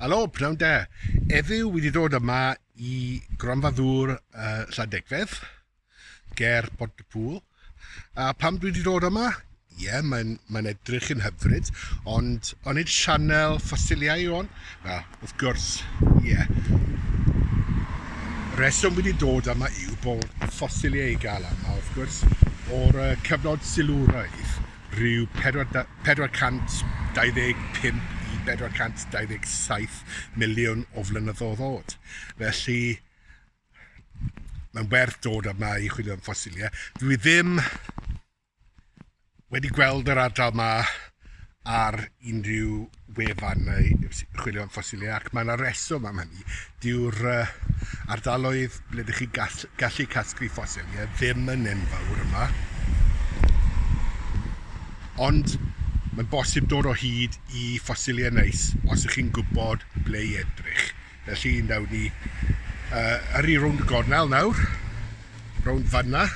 Helo, pnawn da. Eddyw wedi dod yma i gronfa ddŵr uh, Llandegfedd, ger Pont y Pŵl. A pam dwi wedi dod yma? Ie, yeah, mae'n mae edrych yn hyfryd, ond o'n i'n sianel ffosiliau o'n? Wel, Wrth gwrs, ie. Yeah. Reswm wedi dod yma yw bod ffosiliau i gael yma, wrth gwrs, o'r cyfnod silwraidd, rhyw 425 i 427 miliwn o flynyddoedd oed. Felly, mae'n werth dod yma i chwilio am ffosiliau. Dwi ddim Wedi gweld yr ardal yma ar unrhyw wefan neu chwilio am ffosilau ac mae yna reswm am hynny. Dyw'r ardaloedd ble ydych chi'n gallu, gallu casglu ffosilau ddim yn enfawr yma. Ond mae'n bosib dod o hyd i ffosilau neis os ych chi'n gwybod ble i edrych. Felly, nawr ni uh, yr i rownd y gornel nawr, rownd fanna,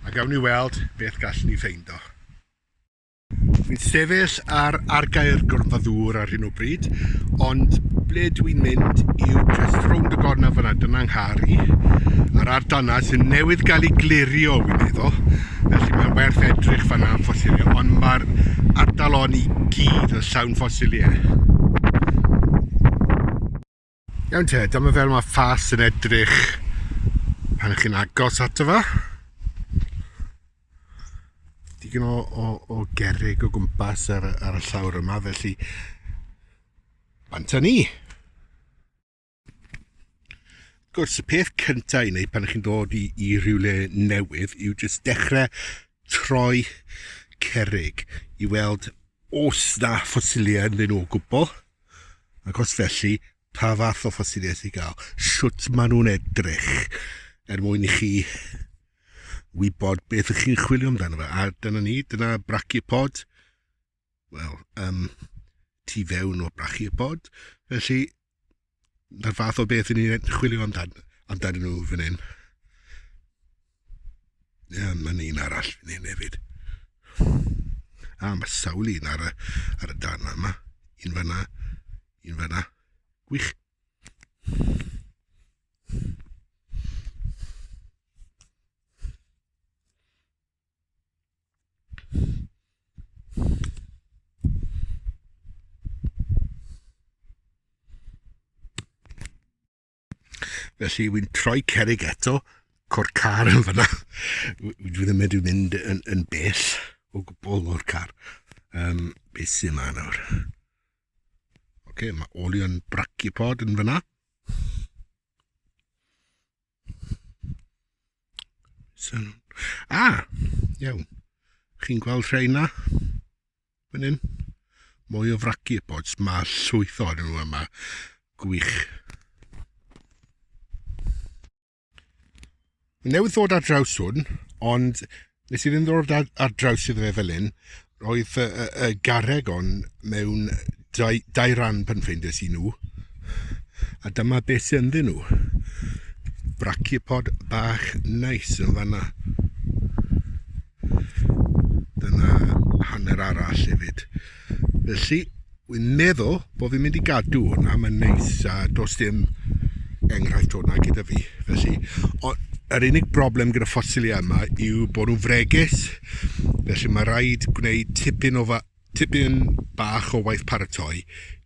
A gawn ni weld beth gallwn ni ffeindo. Fi'n sefyll ar argae'r gorfa ddŵr ar hyn o bryd, ond ble dw i'n mynd yw just rownd y gorna fyna, dyna nghari, a'r ardal yna sy'n newydd gael ei glirio, fi'n meddwl, felly mae'n werth edrych fanna am ffosiliau, ond mae'r ardal on i gyd yn llawn ffosiliau. Iawn te, dyma fel mae ffas yn edrych pan ych chi'n agos ato fa. Digon o, o, o gerig o gwmpas ar, ar y llawr yma, felly banta ni. Gwrs, y peth cyntaf i wneud pan ych chi'n dod i, i rhywle newydd yw jyst dechrau troi cerig i weld os na ffosiliau yn dyn nhw o gwbl. Ac os felly, pa fath o ffosiliaeth i gael? Sut maen nhw'n edrych? Er mwyn i chi wybod beth ych chi'n chwilio amdano fe. A dyna ni, dyna brachiopod. Wel, um, tu fewn o brachiopod. Felly, na'r fath o beth i ni'n chwilio amdano, amdano nhw fan hyn. Ie, yeah, mae'n un arall fi'n hyn hefyd. A, mae sawl un ar y, ar y darn yma. Un fanna, un fanna. Gwych. Felly, wy'n troi cerig eto, co'r car yn fyna. Dwi ddim wedi mynd yn, yn bell o gwbl o'r car. Um, beth sy'n ma nawr? Oce, okay, mae olion bracipod yn fyna. So, ah, iawn. Chi'n gweld rheina? Fan hyn. Mwy o fraci y bods. Mae llwyth o'n nhw yma. Gwych. Mae newydd ddod ar draws hwn, ond nes i ddim ddod ar, ar draws iddo fe fel hyn. Roedd y, y, y garreg on mewn Dau, dau ran pan ffeindes i nhw, a dyma beth sy'n ddyn nhw. Brachipod bach neis yn fanna. Dyna hanner arall hefyd. Felly, wy'n meddwl bod fi'n mynd i gadw hwnna, mae'n neis a dos dim enghraifft hwnna gyda fi. Felly, ond yr unig broblem gyda ffosiliau yma yw bod nhw'n fregus, felly mae rhaid gwneud tipyn o fa- Tipyn bach o waith paratoi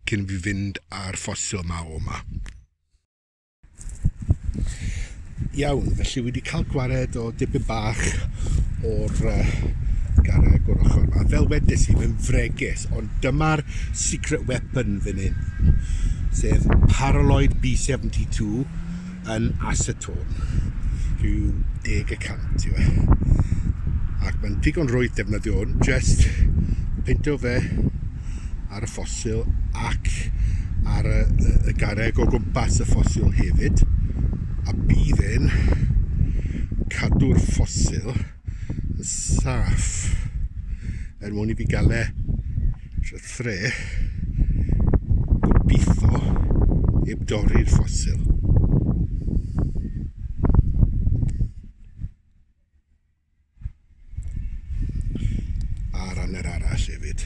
cyn fi fynd a'r ffosil ma o ma. Iawn, felly wedi cael gwared o dipyn bach o'r garreg o'r ochr yma. Fel wedes i, mae'n fregus, ond dyma'r secret weapon fan hyn, sef Paraloid B72, yn asetôn, rhyw deg y cant yw e. Ac mae'n digon rwydd defnyddio hwn, just peintio fe ar y ffosil ac ar y, y, y garreg o gwmpas y ffosil hefyd, a bydd e'n cadw'r ffosil saff er mwyn i fi gael e trwy thre gobeithio heb dorri'r ffosil ar anner arall hefyd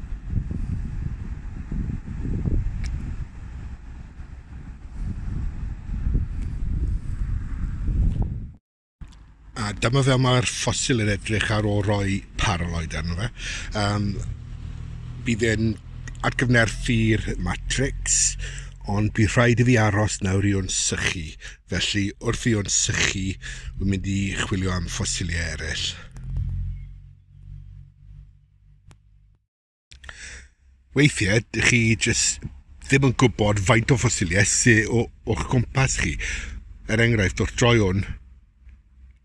A dyma fel mae'r ffosil yn edrych ar ôl rhoi paraloid arno fe. Um, bydd e'n atgyfnerthu'r matrix, ond bydd rhaid i fi aros nawr i o'n sychu. Felly, wrth i o'n sychu, wy'n mynd i chwilio am ffosiliau eraill. Weithiau, dych chi jyst ddim yn gwybod faint o ffosiliau sydd o'ch gwmpas chi. Er enghraifft, wrth droi hwn,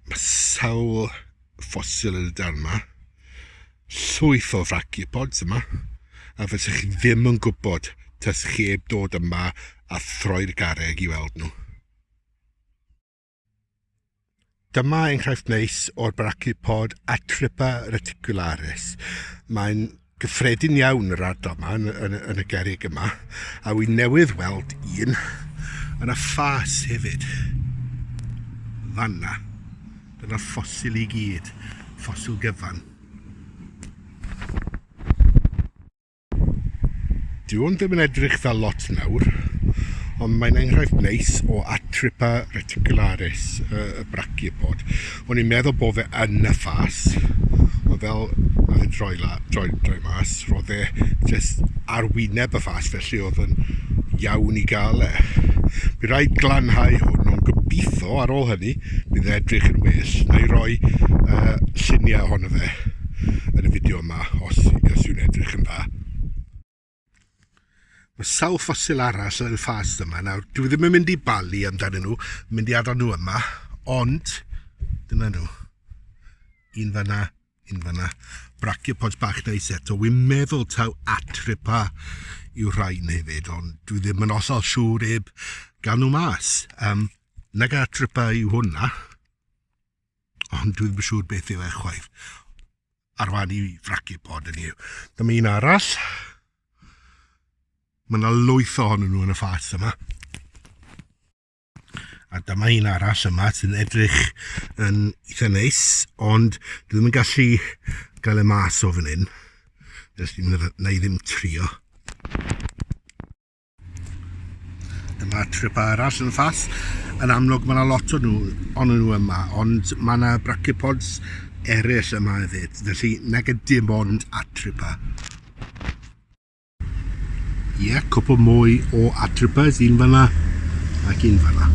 mae sawl ffosil yn y dan yma, llwyth o fraciapods yma, a fysa chi ddim yn gwybod tas chi heb dod yma a throi'r garreg i weld nhw. Dyma enghraifft neis o'r brachipod Atripa reticularis. Mae'n gyffredin iawn yr ardal yma, yn, yn, yn y gerig yma, a wy'n newydd weld un yn y ffas hefyd. Fanna. Dyna'r ffosil i gyd, ffosil gyfan. Dyw hwn ddim yn edrych fel lot nawr, ond mae'n enghraifft neis o Atripa reticularis, y, y brachiopod. O'n i'n meddwl bod fe yn y ffas, ond fel oedd e'n droi, la, droi, droi mas, roedd e jyst ar wyneb y ffas, felly oedd yn iawn i gael e. Mi rhaid glanhau hwn, ond gobeithio ar ôl hynny bydd yn edrych yn well. Na i roi uh, lluniau ohono fe yn y fideo yma os, os yw'n edrych yn dda. Mae sawl ffosil arall yn y ffast yma. Nawr, dwi ddim yn mynd i balu amdanyn nhw, mynd i adael nhw yma, ond dyna nhw. Un fanna, un fanna. Brachiopods bach neis eto. Wy'n meddwl taw atripa yw'r rhain hefyd, ond dwi ddim yn ollol siŵr eb gan nhw mas. Um, nag atripa yw hwnna. Ond dwi ddim yn siŵr beth yw e chwaith. Ar fan i fracu pod yn yw. Dyma un arall. Mae yna lwyth ohonyn nhw yn y ffas yma. A dyma un arall yma sy'n edrych yn eitha neis, ond dwi ddim yn gallu gael e mas o fan hyn. Felly, na i ddim trio. Dyma trip arall yn ffas. Yn amlwg mae yna lot o nhw, ond nhw yma, ond mae yna brachiopods eraill yma hefyd, felly nag dim ond atripa. Ie, yeah, cwpl mwy o atripas, un fanna ac un fanna.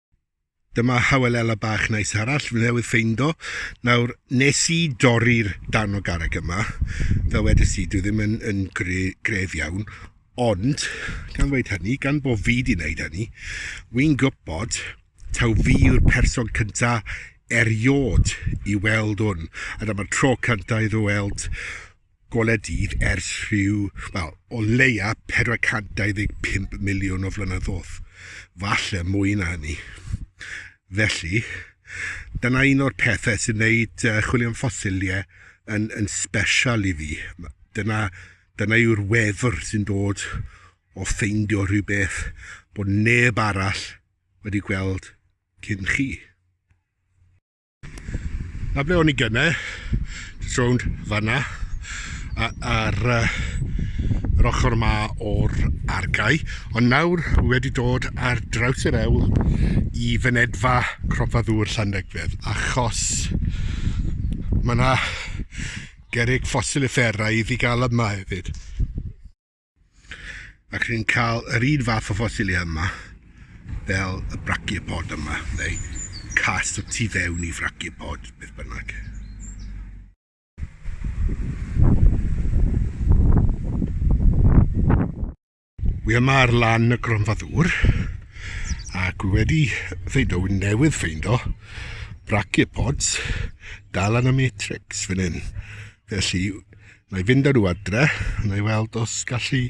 Dyma Hawelella bach neis arall fi newydd ffeindo. Nawr, nes i dorri'r darn o garreg yma, fel wedys i, dwi ddim yn, yn gre, gref iawn, ond, gan ddweud hynny, gan bod fi di wneud hynny, wy'n gwybod taw fi yw'r person cynta eriod i weld hwn. A dyma'r tro cynta i ddweld golau dydd ers rhyw, wel, o leia 425 miliwn o flynyddoedd, falle mwy na hynny. Felly, dyna un o'r pethau sy'n gwneud uh, chwilio am ffosiliau yn, yn special i fi. Dyna, dyna yw'r wefr sy'n dod o ffeindio rhywbeth bod neb arall wedi gweld cyn chi. A ble o'n i gyne, jyst rownd fanna, ar yr ochr yma o'r argae, ond nawr wedi dod ar draws yr ewl i fynedfa Cropa Ddŵr Llandegfedd, achos mae yna gerrig ffosil uffernaidd i gael yma hefyd. Ac rydyn ni'n cael yr un fath o ffosilia yma, fel y brachiopod yma, neu cas o tu fewn i frachiopod, beth bynnag. Wi yma ar lan y gronfa ddŵr, ac wi wedi ffeindo, wi newydd ffeindo, brachiopods dal yn y matrix fan hyn. Felly, Na i fynd â nhw adre, na i weld os gallu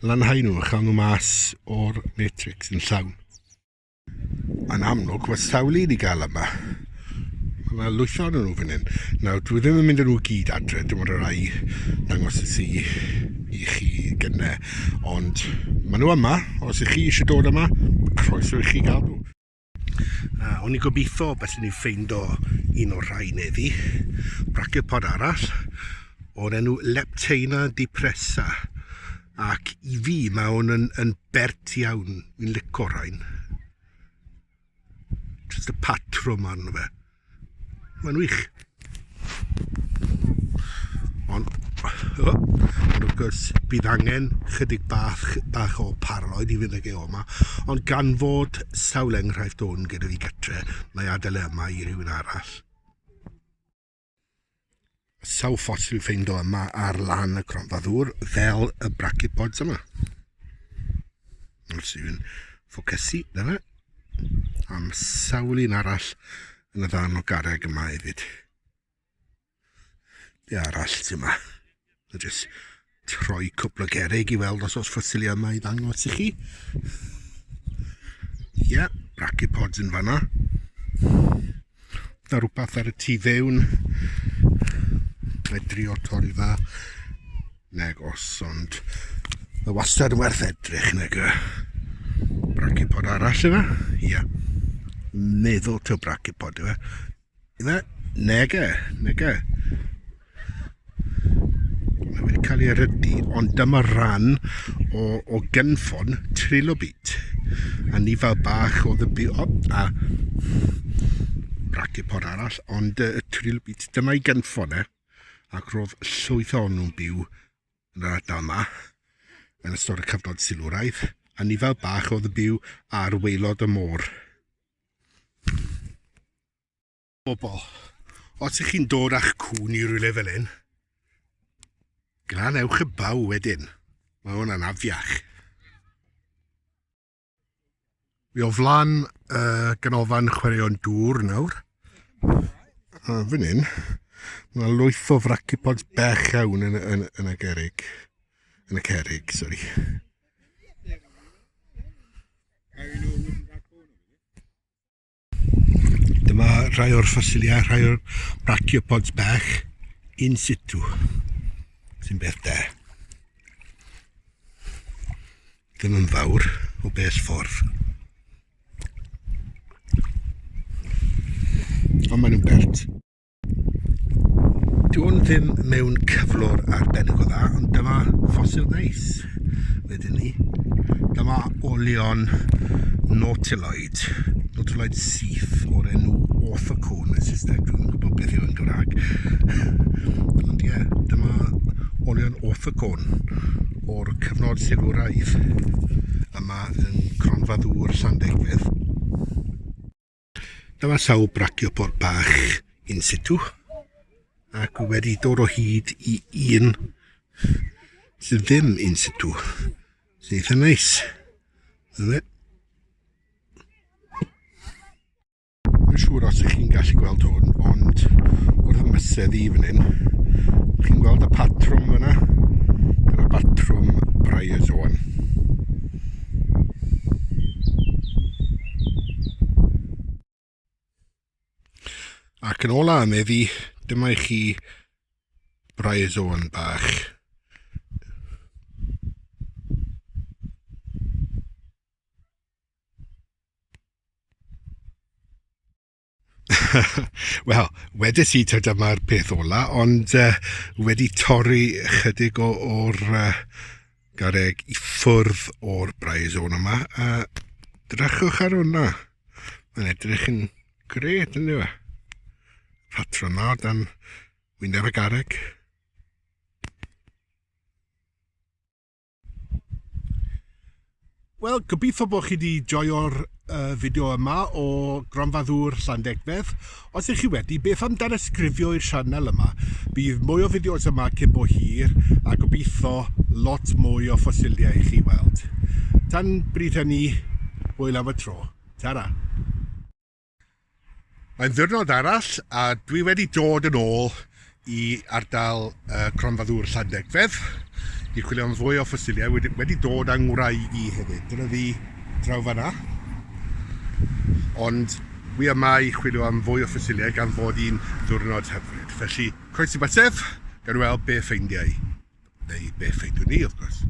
lanhau nhw a chael nhw mas o'r matrix yn llawn. Yn amlwg, mae sawl un i gael yma. Mae yna lwytho yn nhw fan hyn. Nawr, dwi ddim yn mynd â nhw gyd adre, dim ond y rai dangos y si i chi gyne. Ond maen nhw yma, os ych chi eisiau dod yma, croeso i chi gael nhw. Uh, o'n i gobeithio beth ni'n ffeindo un o'r rhai neddi. Brachiopodd arall o'r enw Lepteina depressa. Ac i fi mae hwn yn, yn bert iawn. Fi'n lico rhain. Just y patrwm arno fe. Mae'n wych. Ond, oh, ond wrth gwrs, bydd angen chydig bach, bach o parloid i fynd ag e o yma. Ond gan fod sawl enghraifft o'n gyda fi gytre, mae adael e yma i rywun arall. Sawl ffosil i'w ffeindo yma ar lan y cronfa ddŵr fel y brachypods yma. Os yw'n ffocysu, dyna. Am sawl un arall yn y ddarn o garreg yma hefyd. Be arall sy'n yma? Dwi'n just troi cwpl o gerig i weld os oes ffosil yma i ddangos i chi. Ie, yeah, brachiopods yn fanna. Da rhywbeth ar y tu fewn. Mae drio torri fa. Neg os, ond mae wastad yn werth edrych neg y brachipod arall yma. Ie. Yeah. Meddwl to brachipod yma. Na, nege, nege. Mae wedi cael ei rydu, ond dyma ran o, o gynffon trilobit. A ni fel bach o ddybu, o, a brachipod arall, ond y trilobit, dyma ei gynffon e. Ac roedd llwyth o'n nhw'n byw yn yr ardal yma, yn ystod y cyfnod silwraidd, a ni fel bach oedd yn byw ar weilod y môr. Bobl, os ych chi'n dod â'ch cŵn i rywle fel hyn, glan ewch y baw wedyn. Mae hwn yn afiach. Fi o flan y uh, ganolfan chwaraeon dŵr nawr. A fan hyn, mae lwyth o fracipods bech iawn yn, yn, yn y gerig. Yn y cerig, sori. Dyma rhai o'r ffosiliau, rhai o'r brachiopods bach in situ, sy'n beth da. Ddim yn fawr o beth ffordd. Ond maen nhw'n bert. Dwi'n ddim mewn cyflwr arbennig o dda, ond dyma ffosil neis wedyn ni. Dyma olion nautiloid, nautiloid syth o'r enw orthocone yn Saesneg, dwi'n gwybod beth yw yn Gymraeg. ond ie, yeah, dyma olion orthocone o'r cyfnod silwraidd yma yn Cronfa Ddŵr Llandegfydd. Dyma sawl brachiopod bach in situ ac wedi dod o hyd i un sydd ddim in situ sy'n eitha neis. Dyna Mae'n siŵr os ych chi'n gallu gweld hwn, ond wrth ymysedd i fan hyn, chi'n gweld y patrwm fyna? Dyna batrwm Bryozoan. Ac yn ôl â am efi, dyma i chi braizoan bach. Wel, wedes i ta dyma'r peth ola, ond uh, wedi torri chydig o'r uh, gareg i ffwrdd o'r braes o'n yma, a drychwch ar hwnna. Mae'n edrych yn gret, yn dweud. Patron na, dan wyneb y gareg. Wel, gobeithio bod chi wedi joio'r uh, fideo yma o Gronfa Ddŵr Llandegfedd. Os ydych chi wedi, beth am danysgrifio i'r sianel yma? Bydd mwy o fideos yma cyn bo hir a gobeithio lot mwy o ffosiliau i chi weld. Tan bryd hynny, hwyl am y tro. Ta-ra! Mae'n ddiwrnod arall a dwi wedi dod yn ôl i ardal uh, Cronfa Ddŵr Llandegfedd i chwilio am fwy o ffosiliau. Wedi, wedi dod â ngwraig i hefyd. Dyna fi draw fanna. Ond wi yma i chwilio am fwy o ffosiliau gan fod i'n ddiwrnod hyfryd. Felly, coes i batef, gan weld be ffeindiau. Neu be ffeindwn ni, wrth gwrs.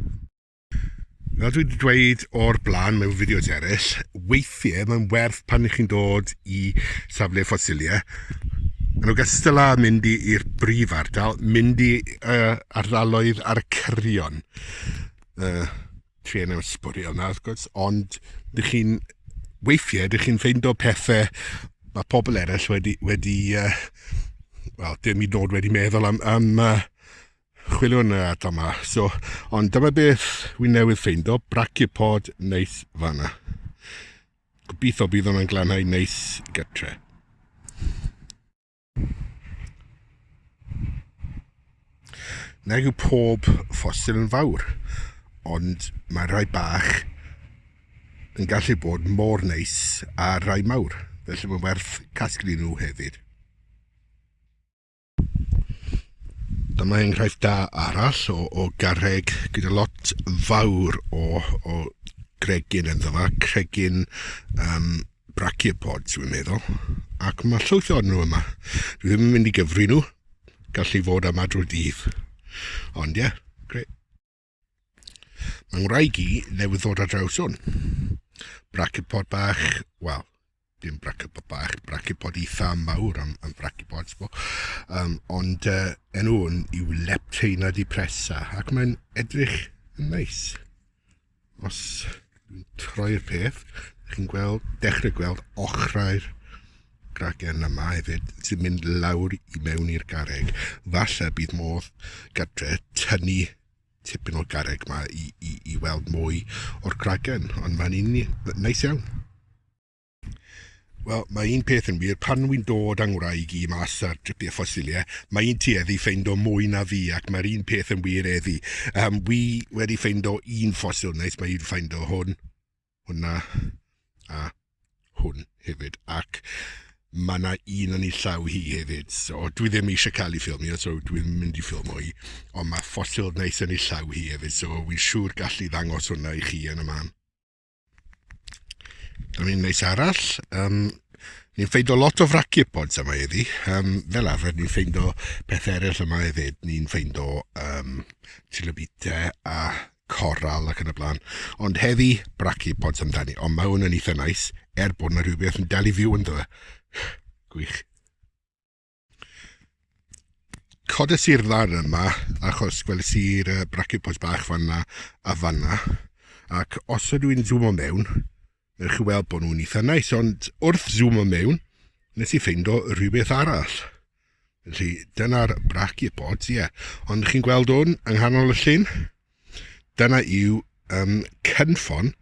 Fel dwi wedi dweud o'r blaen mewn fideos eraill, weithiau mae'n werth pan ych chi'n dod i safle ffosiliau, yn ogystal â mynd i'r brif ardal, mynd i uh, ardaloedd ar y cyrion. Uh, tri enw sbwriel na, wrth gwrs, ond dych chi'n weithiau, dych chi'n ffeindo pethau mae pobl eraill wedi, wedi uh, wel, dim i nod wedi meddwl am, am uh, chwiliwn y adar yma. So, ond dyma beth wi newydd ffeindo, brachipod neis fanna. Gobeithio bydd hwnna'n glanhau neis gytre. Nag yw pob ffosil yn fawr, ond mae rhai bach yn gallu bod mor neis a rhai mawr, felly mae'n werth casglu nhw hefyd. Dyma enghraifft da arall o, o garreg gyda lot fawr o, o gregyn yn dda, cregyn um, brachiopods, dwi'n meddwl. Ac mae llwyth o'n nhw yma. Dwi ddim yn mynd i gyfri nhw, gallu fod am adro dydd. Ond ie, yeah, gret. Mae ngwraig i newydd ddod ar draws hwn. Brachypod bach, wel, dim brachypod bach, brachypod eitha mawr am, am brachypods bo. Um, ond uh, enw hwn yw Lepteina depressa, ac mae'n edrych yn neis. Os dwi'n troi'r peth, chi'n gweld, dechrau gweld ochrau'r gragen yma hefyd sy'n mynd lawr i mewn i'r garreg. Falle bydd modd gadre tynnu tipyn o'r garreg yma i, i, i weld mwy o'r gragen, ond mae'n un neis iawn. Wel, mae un peth yn wir, pan wy'n dod â ngwraig i mas ar dripiau ffosiliau, mae un ti eddi ffeind o mwy na fi, ac mae'r un peth yn wir eddi. Um, wy wedi ffeind o un ffosil neis, mae un ffeind o hwn. hwnna a hwn hefyd, ac mae yna un yn ei llaw hi hefyd, so dwi ddim eisiau cael ei ffilmio, so dwi'n mynd i ffilmo hi, ond mae ffosil neis yn ei llaw hi hefyd, so wy'n siŵr gallu ddangos hwnna i chi yn y man. Dyna ni'n neis arall. Um, ni'n ffeindo lot o frachiopods yma iddi. Um, fel arfer, ni'n ffeindo peth eraill yma hefyd. Ni'n ffeindo um, tilobite a coral ac yn y blaen. Ond heddi, brachiopods amdani. Ond mae hwn yn eitha nice, er bod yna rhywbeth yn dal i fyw ynddo fe. Gwych. Codes i'r ddarn yma, achos gwelys i'r uh, brachiopods bach fanna a fanna. Ac os ydw i'n zoomo mewn, Newch chi weld bod nhw'n eitha nice, ond wrth zoomo mewn, nes i ffeindo rhywbeth arall. Felly, dyna'r braci bods, ie. Yeah. Ond chi'n gweld hwn yng nghanol y llun? Dyna yw um, cynffon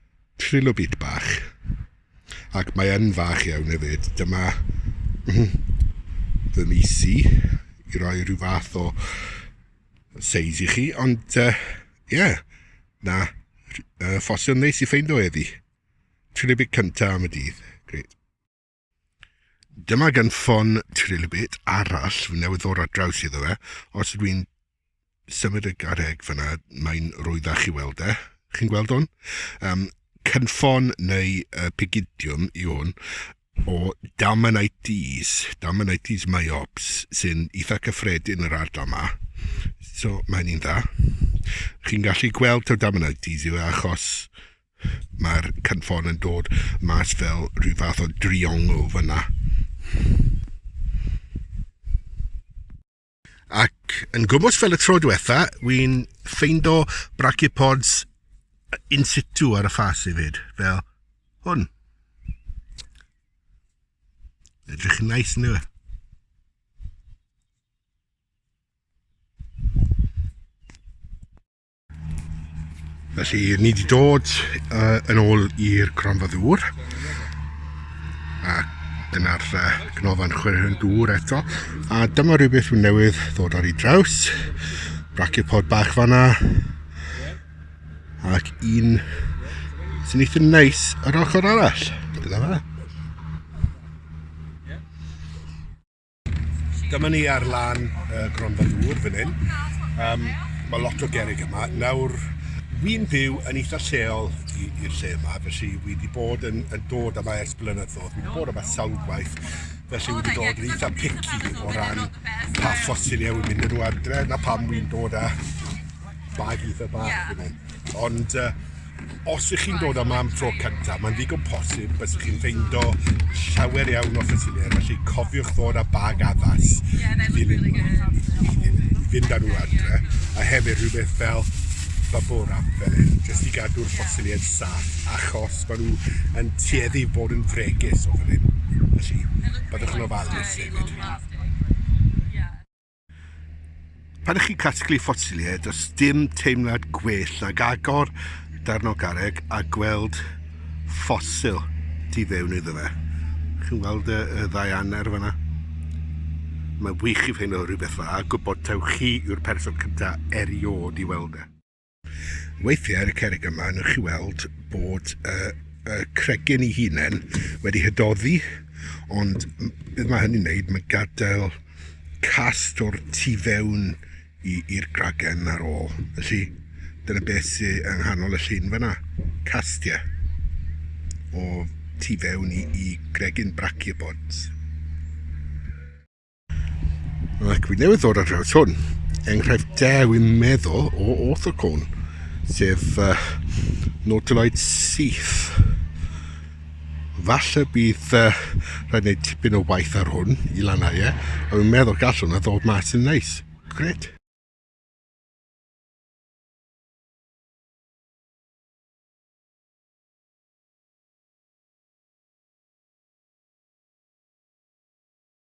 trilobit bach. Ac mae yn fach iawn hefyd. Dyma fy misi i roi rhyw fath o seis i chi, ond ie, uh, yeah, na, uh, ffosil neis i ffeind o eddi. Trilibit cynta am y dydd. Gret. Dyma gan ffon trilibit arall fy newydd ddod ar draws iddo fe. Os ydw i'n symud y garreg fyna, mae'n rwyddach i weld e. Chi'n gweld hwn? Um, cynffon neu uh, pigidiwm i hwn. o damanites, damanites myops, sy'n eitha cyffredin yn yr ardal yma. So, mae hynny'n dda. Chi'n gallu gweld taw damanites yw e achos mae'r cynffon yn dod mas fel rhyw fath o driongl fyna. Ac yn gwmws fel y tro diwetha, wi'n ffeindo brachiopods in situ ar y ffas hefyd, fel hwn. Edrych yn nice yn dweud. Felly, ni wedi dod uh, yn ôl i'r cronfa ddŵr. A dyna'r uh, cnofan chwerwyn dŵr eto. A dyma rhywbeth sy'n newydd ddod ar ei draws. Brachiopodd bach fanna. Ac un sy'n eitha neis yr ochr arall. Dyna fe. Dyma ni ar lan uh, Gronfa Dŵr fan hyn. Um, mae lot o gerig yma. Nawr, wy'n byw yn eitha lleol i'r lle yma, felly wy wedi bod yn, yn dod yma ers blynyddoedd, wy wedi bod yma sawl gwaith, felly wy wedi dod yn eitha picky o ran pa ffosiliau wy'n mynd yn nhw adre, na pam wy'n dod â bag eitha bach yeah. fan hyn. Ond uh, Os ych chi'n dod yma am tro cyntaf, mae'n ddigon posib bys chi'n ffeindo llawer iawn o ffysilau, felly cofiwch ddod â bag addas i ddilyn nhw, i fynd â nhw adre, a hefyd rhywbeth fel bubble wrap fel hyn, jyst i gadw'r ffosiliau'n saff, achos maen nhw yn tueddu bod yn fregus o fel hyn, felly byddwch yn ofalus hefyd. Pan ych chi'n casglu ffosiliau, does dim teimlad gwell nag agor darn o garreg a gweld ffosil tu fewn iddo fe. Chi'n gweld y, y ddau anner fyna? Mae wych i fein o rhywbeth fa, a gwybod taw chi yw'r person cyntaf erioed i weld e. Weithiau ar y cerrig yma newch chi weld bod y, y cregyn ei hunain wedi hydoddi, ond beth mae hynny'n neud, mae gadael cast o'r tu fewn i'r gragen ar ôl. Felly, dyna beth sy'n yng nghanol y llun fyna, castiau o tu fewn i, i gregyn brachiopods. Ac fi newydd ddod ar draws hwn, enghraifft da wi'n meddwl o orthocon, sef uh, Nautiloid syth. Falle bydd uh, rhaid wneud tipyn o waith ar hwn i lanhau e, ond fi'n meddwl gallwn a ddod mas yn neis. Gret.